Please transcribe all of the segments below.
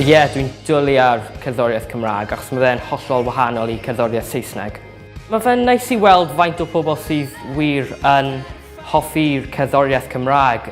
Ie, dwi'n dwlu ar cerddoriaeth Cymraeg achos mae fe'n hollol wahanol i cerddoriaeth Saesneg. Mae fe'n neis i weld faint o pobl sydd wir yn hoffi'r cerddoriaeth Cymraeg.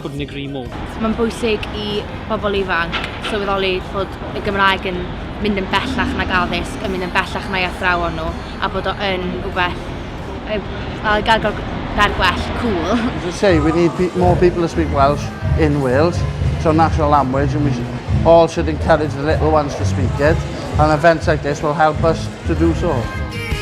Couldn't agree more. Mae'n bwysig i bobl ifanc sylweddoli fod y Gymraeg yn mynd yn bellach nag addysg, yn mynd yn bellach na'i athrawon nhw, a bod o yn rhywbeth y gair gair gair gwell, cool. As I say, we need pe more people to speak Welsh in Wales. It's our national language and we should, all should encourage the little ones to speak it. And events like this will help us to do so.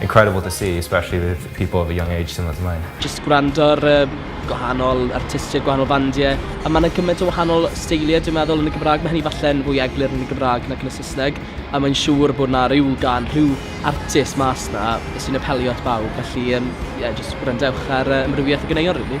incredible to see especially with people of a young age similar to mine. Jyst gwrando ar y gwahanol artistiaid, gwahanol fandiau, a mae yna gymaint o wahanol steiliau dwi'n meddwl yn y Gymraeg, mae hynny falle'n fwy eglur yn y Gymraeg nac yn y Saesneg, a mae'n siŵr bod yna rhyw gan, rhyw artist mas yna sy'n apelio at bawb, felly ie, jyst gwrandewch ar ymrywiaeth y ganeuon rili.